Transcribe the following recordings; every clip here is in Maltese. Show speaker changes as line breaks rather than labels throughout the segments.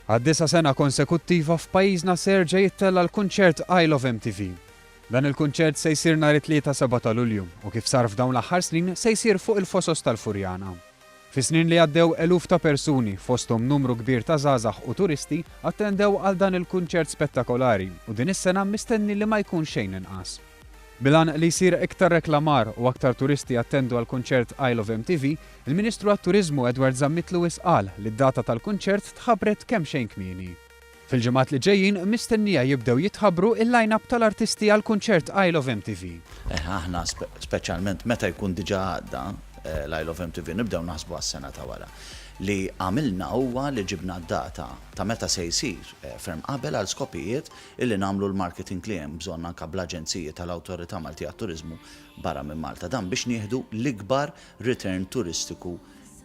Għad-disa' sena konsekuttiva f'pajjiżna se jerġa' jittella' l-kunċert I Love MTV. Dan il-kunċert se jsir nhar it-Tlieta 7 ta' Lulju u kif sar f'dawn l-aħħar snin se jsir fuq il-Fosos tal-Furjana. Fis-snin li għaddew eluf ta' persuni, fosthom numru kbir ta' żgħażagħ u turisti, attendew għal dan il-kunċert spettakolari u din is-sena mistenni li ma jkun xejn inqas. Bil-għan li jsir iktar reklamar u aktar turisti jattendu għall-kunċert Isle of MTV, il-Ministru għat-Turiżmu Edward Zammit Lewis qal li d-data tal-kunċert tħabbret kemxejn kmieni. Fil-ġimgħat li ġejjin mistennija jibdew jitħabbru il-line-up tal-artisti għall-kunċert Isle of MTV. Eh, aħna
speċjalment meta jkun diġà għadda eh, l-Isle of MTV nibdew naħsbu għas-sena ta' wara. Li għamilna huwa li ġibna d-data ta' meta se jsir eh, ferm qabel għal skopijiet illi nagħmlu l-marketing li hemm bżonn anke bl-aġenziji tal-Awtorità Malti għat-Turiżmu barra minn Malta. Dan biex nieħdu l-ikbar return turistiku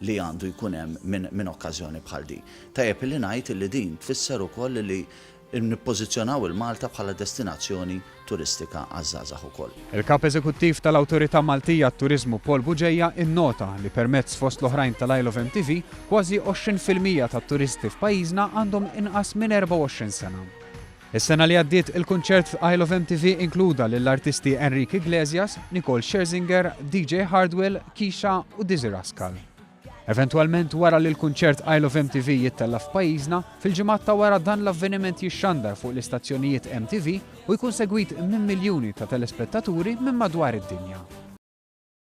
li għandu jkun hemm minn minn okkażjoni bħal din. Tajjeb illi ngħid illi din tfisser ukoll illi nippożizzjonaw il-Malta bħala destinazzjoni turistika għaż-żgħażagħ ukoll. Il-Kap Eżekuttiv
tal-Awtorità Maltija għat-Turiżmu Paul Bugeja innota li permezz fost l-oħrajn tal-Isle of MTV, kważi 20 fil-mija tat-turisti f'pajjiżna għandhom inqas minn 24 sena. Is-sena li għaddiet il-kunċert f'Isle of MTV inkluda lill-artisti Enrique Iglesias, Nicole Scherzinger, DJ Hardwell, Keisha u Dizzy Rascal. Eventwalment wara li l-kunċert Isle of MTV jittella' f'pajjiżna, fil-ġimgħat ta' wara dan l-avveniment jixxandar fuq l-istazzjonijiet MTV u jkun segwit minn miljuni ta' telespettaturi minn madwar id-dinja.